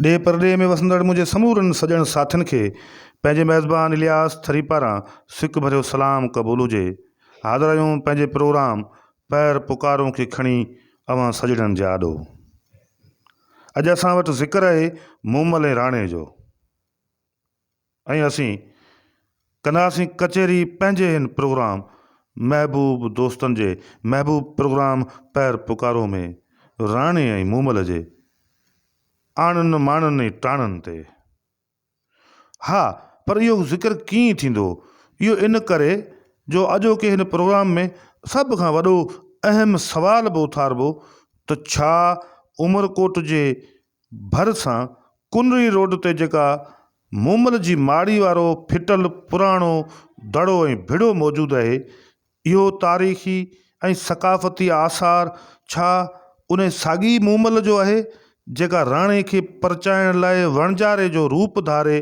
ڏيهه پرڏيهه ۾ وسندڙ منهنجي سمورن سڄڻ ساٿين کي پنهنجي ميزبان الياس ٿري پاران سڪ ڀريو سلام قبول هجي. حاضرايون پنهنجي پروگرام پير پڪارون کي کڻي اوهان سڄڻن جي آڏو. اڄ اسان وٽ ذڪر آهي مومل ۽ راڻي جو. ۽ اسين ڪنداسين ڪچهري پنهنجي هن پروگرام محبوب دوستن جي محبوب پروگرام پير پڪارو ۾ راڻي ۽ مومل جي آڻن ماڻن ۽ ٽاڻن تي ها پر اهو ذڪر ڪيئن ٿيندو اهو ان ڪري جو اڄوڪي هن پروگرام ۾ سڀ کان وڏو اهم سوال به اٿاربو ته ڇا عمرڪوٽ جي ڀرسان ڪنري روڊ تي جيڪا مومل جي ماڙي وارو ڦٽل پراڻو دڙو ۽ ڀڙو موجود اهي، اهو تاريخي ۽ ثقافتي آثار ڇا انهي ساڳي مومل جو اهي، جيڪا راڻي کي پرچائڻ لاء وڻجاري جو روپ ڌاري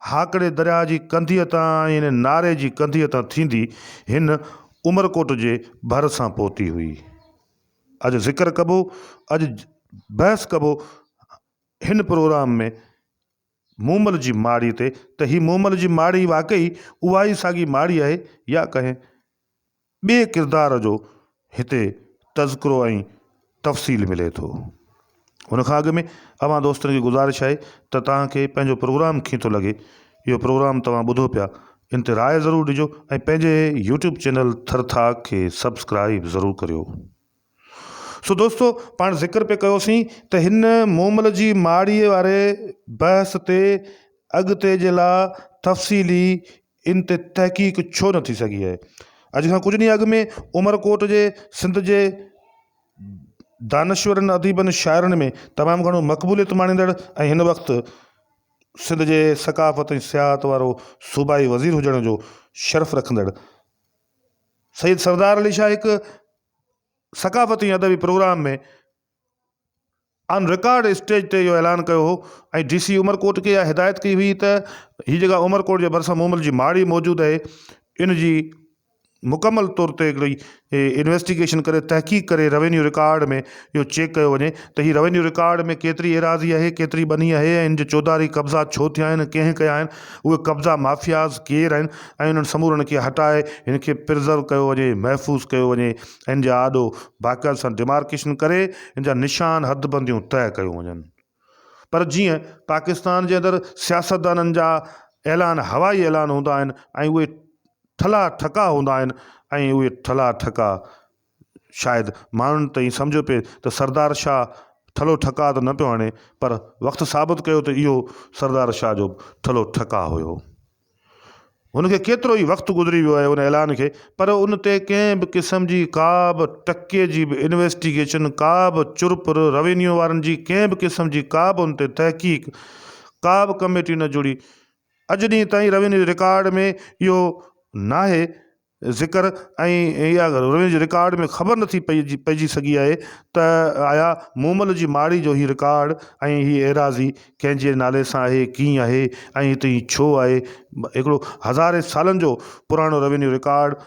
هاڪڙي درياهه جي ڪنڌيء تان ۽ ناري جي ڪنڌيء تان ٿيندي هن عمرڪوٽ جي ڀرسان پهتي هئي. اڄ ذڪر ڪبو اڄ بحث ڪبو هن پروگرام ۾ مومل جي ماڙي تي ته هي مومل جي ماڙي واقعي اها ئي ساڳي ماڙي آهي يا ڪنهن ٻئي ڪردار جو هتي تذڪرو ۽ تفصيل ملي ٿو. هن کان اڳ ۾ اوهان دوستن کي گذارش آهي ته توهان کي پنهنجو پروگرام ڪيئن ٿو لڳي اهو پروگرام توهان ٻڌو پيا ان تي راء ضرور ڏجو ۽ پنهنجي يوٽيوب چينل ٿر ٿاڪ کي سبسڪرائيب ضرور ڪريو سو دوستو پاڻ ذڪر پي ڪيوسين ته هن مومل جي ماڙي واري بحث تي اڳتي جي لا تفصيلي ان تي تحقيق ڇو نه ٿي سگهي آهي. اڄ کان ڪجهه ڏينهن اڳ ۾ عمرڪوٽ جي سنڌ جي دانشورن، اديبن، شاعرن ۾ تمام گهڻو مقبوليت ماڻيندڙ ۽ هن وقت سنڌ جي ثقافت ۽ سياحت وارو صوبائي وزير هجڻ جو شرف رکندڙ سيد سردار علي شاهه هڪ ثقافتي ۽ ادبي پروگرام ۾ آن رڪارڊ اسٽيج تي اهو اعلان ڪيو هو ۽ ڊي سي عمرڪوٽ کي اها هدايت ڪئي هئي ته هي جيڪا عمرڪوٽ جي ڀرسان مومل جي ماڙي موجود آهي ان جي مڪمل طور تي هڪڙي انويسٽيگيشن ڪري تحقيق ڪري روينيو رڪارڊ ۾ اهو چيڪ ڪيو وڃي ته هي روينيو رڪارڊ ۾ ڪيتري ايراضي آهي ڪيتري ٻني آهي ۽ ان جي چوڌاري قبضا ڇو ٿيا آهن ڪنهن ڪيا آهن اهي قبضا مافياز ڪير آهن ۽ انهن سمورن کي هٽائي هن کي پرزرو ڪيو وڃي محفوظ ڪيو وڃي ان جا آڏو باقاعدي سان ڊيمارڪيشن ڪري ان جا نشان حدبنديون طئي ڪيون وڃن پر جيئن پاڪستان جي اندر سياستدانن جا اعلان هوائي اعلان هوندا آهن ۽ اهي ٺلا ٺڪا هوندا آهن ۽ اهي ٺلا ٺڪا شايد ماڻهن تائين سمجهيو پئي ته سردار شاهه ٺلو ٺڪا ته نه پيو هڻي پر وقت ثابت ڪيو ته اهو سردار شاهه جو ٺلو ٺڪا هيو هن کي ڪيترو ئي وقت گذري ويو آهي ان اعلان کي پر ان تي ڪنهن به قسم جي ڪا به ٽڪي جي به انويسٽيگيشن ڪا به چرپر روينيو وارن جي ڪنهن به قسم جي ڪا به ان تي تحقيق ڪا به ڪميٽي نه جڙي اڄ ڏينهن تائين روينيو جي رڪارڊ ۾ اهو ناهي ذڪر ۽ اها روين جي رڪارڊ ۾ خبر نه ٿي پئجي سگهي آهي ته آيا مومل جي ماڙي جو هي رڪارڊ ۽ هي ايراضي ڪنهن جي نالي سان آهي ڪيئن آهي ۽ هتي هي ڇو آهي هڪڙو هزارين سالن جو پراڻو روينيو رڪارڊ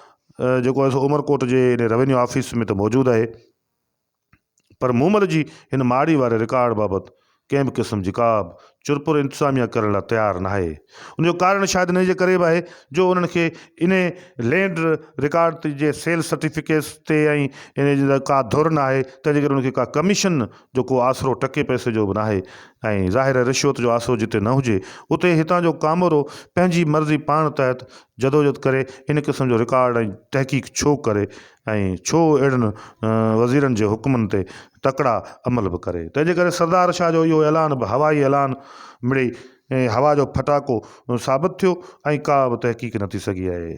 جيڪو عمرڪوٽ جي ان روينيو آفيس ۾ ته موجود آهي. پر مومل جي هن ماڙي واري رڪارڊ بابت ڪنهن به قسم جي ڪابه چرپر انتظاميه ڪرڻ لاء تيار ناهي. ان جو ڪارڻ شايد انهيء جي ڪري به آهي جو انهن کي انهي لينڊ رڪارڊ تي جي سيل سرٽيفڪيٽس تي ۽ انهي جي ڪا ڌر ناهي تنهن جي ڪري انهن کي ڪا ڪميشن جو ڪو آسرو ٽڪي پئسي جو به ناهي ۽ ظاهر آهي رشوت جو آسرو جتي نه هجي اتي هتان جو ڪامورو پنهنجي مرضي پاڻ تحت جدوجھد ڪري ان قسم جو رڪارڊ ۽ تحقيق ڇو ڪري ۽ ڇو اهڙن وزيرن جي حڪمن تي تڪڙا عمل به ڪري. تنهن جي ڪري سردار شاهه جو اهو اعلان به هوائي اعلان مڙئي هوا جو ڦٽاڪو ثابت ٿيو ۽ ڪا به تحقيق نه ٿي سگهي آهي.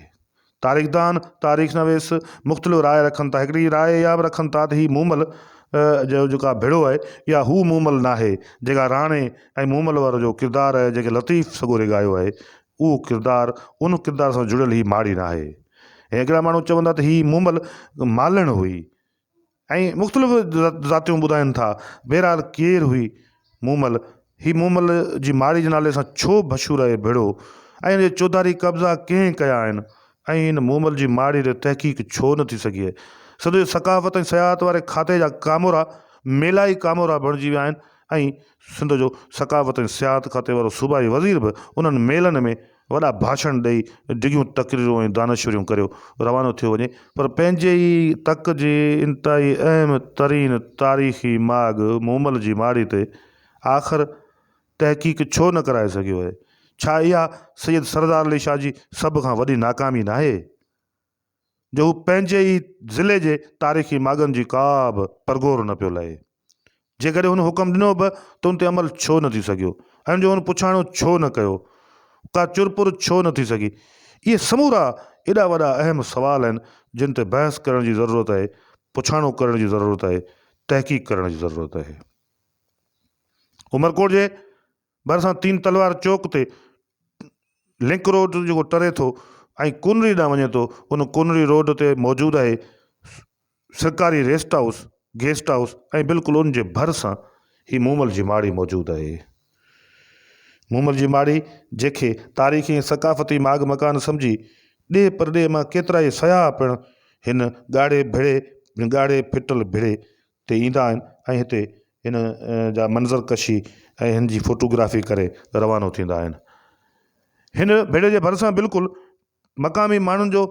تاريخدان، تاريخ نويس مختلف راء رکن ٿا. هڪڙي راء اها به رکن ٿا ته هي مومل جو جيڪا ڀيڙو آهي اها هو مومل ناهي جيڪا راڻي ۽ مومل وارو جو ڪردار آهي جيڪي لطيف سڳوري ڳايو آهي اهو ڪردار ان ڪردار سان جڙيل هي ماڙي ناهي ۽ اڳيان ماڻهو چوندا ته هي مومل مالڻ هئي ۽ مختلف ذاتيون ٻڌائن ٿا بهرحال ڪير هئي مومل هي مومل جي ماڙي جي نالي سان ڇو مشهور آهي ڀڙو ۽ ان جي چوڌاري قبضا ڪنهن ڪيا آهن ۽ ان مومل جي ماڙي تي تحقيق ڇو نه ٿي سگهي؟ سڄي ثقافت ۽ سياحت واري کاتي جا ڪامورا ميلا ئي ڪامورا بڻجي ويا آهن ۽ سنڌ جو ثقافت ۽ سياحت کاتي وارو صوبائي وزير به انهن ميلن ۾ وڏا ڀاشڻ ڏئي ڊگهيون تقريرون ۽ دانشوريون ڪريو روانو ٿيو وڃي پر پنهنجي ئي تڪ جي انتهائي اهم ترين تاريخي ماڳ مومل جي ماڙي تي آخر تحقيق ڇو نه ڪرائي سگهيو آهي؟ ڇا اها سيد سردار علي شاهه جي سڀ کان وڏي ناڪامي ناهي جو هو پنهنجي ئي ضلعي جي تاريخي ماڳن جي ڪا به پرگهور نه پيو لهي؟ جيڪڏهن هن حڪم ڏنو به ته ان تي عمل ڇو نه ٿي سگهيو؟ ان جو هن پڇاڻو ڇو نه ڪيو؟ ڪا چرپر ڇو نه ٿي سگهي؟ اهي سمورا ايڏا وڏا اهم سوال آهن جن تي بحث ڪرڻ جي ضرورت آهي، پڇاڻو ڪرڻ جي ضرورت آهي، تحقيق ڪرڻ جي ضرورت آهي. عمرڪوٽ جي ڀرسان تين تلوار چوڪ تي لنڪ روڊ جيڪو ٽري ٿو ۽ ڪونري ڏانهن وڃي ٿو ان ڪونري روڊ تي موجود آهي سرڪاري ريسٽ هائوس گيسٽ هائوس ۽ بلڪل ان جي ڀرسان هي مومل جي ماڙي موجود آهي مومل جي ماڙي جيڪي تاريخي ۽ ثقافتي ماڳ مڪان سمجهي ڏي پرڏي مان ڪيترا ئي سياح پڻ هن ڳاڙهي ڀڙي ڳاڙهي ڦٽل ڀڙي تي ايندا آهن ۽ هتي هن جا منظر ڪشي ۽ هن جي فوٽو گرافي ڪري روانو ٿيندا آهن. هن ڀيڙي جي ڀرسان بلڪل مقامي ماڻهن جو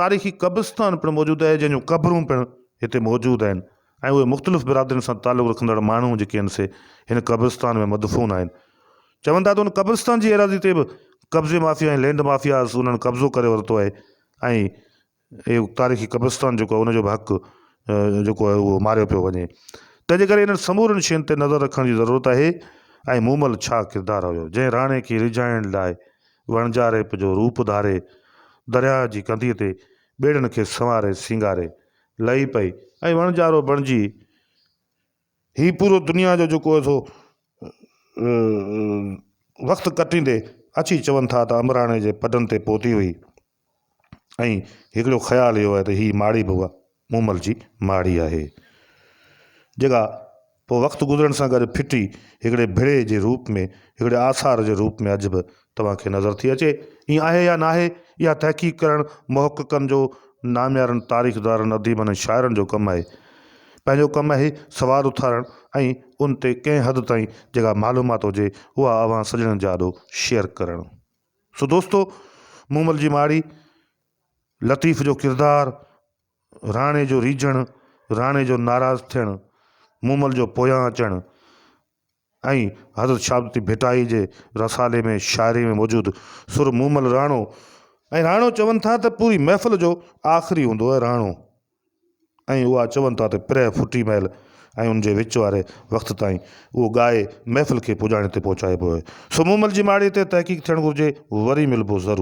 تاريخي قبرستان پڻ موجود آهي جنهن جون قبرون پڻ هتي موجود آهن ۽ اهي مختلف برادرين سان تعلق رکندڙ ماڻهو جيڪي هن سي هن قبرستان ۾ مدفون آهن. چون ٿا ته هن قبرستان جي ايراضي تي به قبضي مافيا ۽ لينڊ مافياز انهن قبضو ڪري ورتو آهي ۽ اهو تاريخي قبرستان جيڪو آهي ان جو به حق جيڪو آهي اهو ماريو پيو وڃي تنهن جي ڪري انهن سمورين شين تي نظر رکڻ جي ضرورت آهي ۽ مومل ڇا ڪردار هيو جنهن راڻي کي ريجهائڻ لاء وڻجا ريپ جو روپ ڌاري درياهه جي ڪنڌيء تي ٻيڙن کي سنواري سينگاري لهي پئي ۽ وڻجارو بڻجي هي پورو دنيا جو جيڪو آهي سو وقت ڪٽيندي اچي چون ٿا ته امبراڻي جي پڊن تي پهتي هئي. ۽ هڪڙو خيال اهو آهي ته هي ماڙي به اها مومل جي ماڙي آهي، جيڪا پوء وقت گذرڻ سان گڏ ڦٽي هڪڙي ڀڙي جي روپ ۾ هڪڙي آثار جي روپ ۾ اڄ به توهان کي نظر ٿي اچي. ائين آهي يا ناهي، اها تحقيق ڪرڻ محققن جو، ناميارن تاريخدارن، اديبن ۽ شاعرن جو ڪم آهي. پنهنجو ڪم آهي سوال اٿارڻ ۽ ان تي ڪنهن حد تائين جيڪا معلومات هجي اها اوهان سڄڻن جي آڏو شيئر ڪرڻ. سو دوستو مومل جي ماڙي لطيف جو ڪردار راڻي جو ريجهڻ راڻي جو ناراض ٿيڻ مومل جو پويان اچڻ ۽ حضرت شهادتي ڀٽائي جي رسالي ۾ شاعري ۾ موجود سر مومل راڻو ۽ راڻو چون ٿا ته پوري محفل جو آخري هوندو آهي راڻو ۽ اها چون ٿا ته پرهه ڦٽي مهل ۽ ان جي وچ واري وقت تائين اهو ڳائي محفل کي پڄاڻي تي پهچائبو آهي. سو مون مل جي ماڙيء تي تحقيق ٿيڻ گهرجي، وري ملبو ضرور.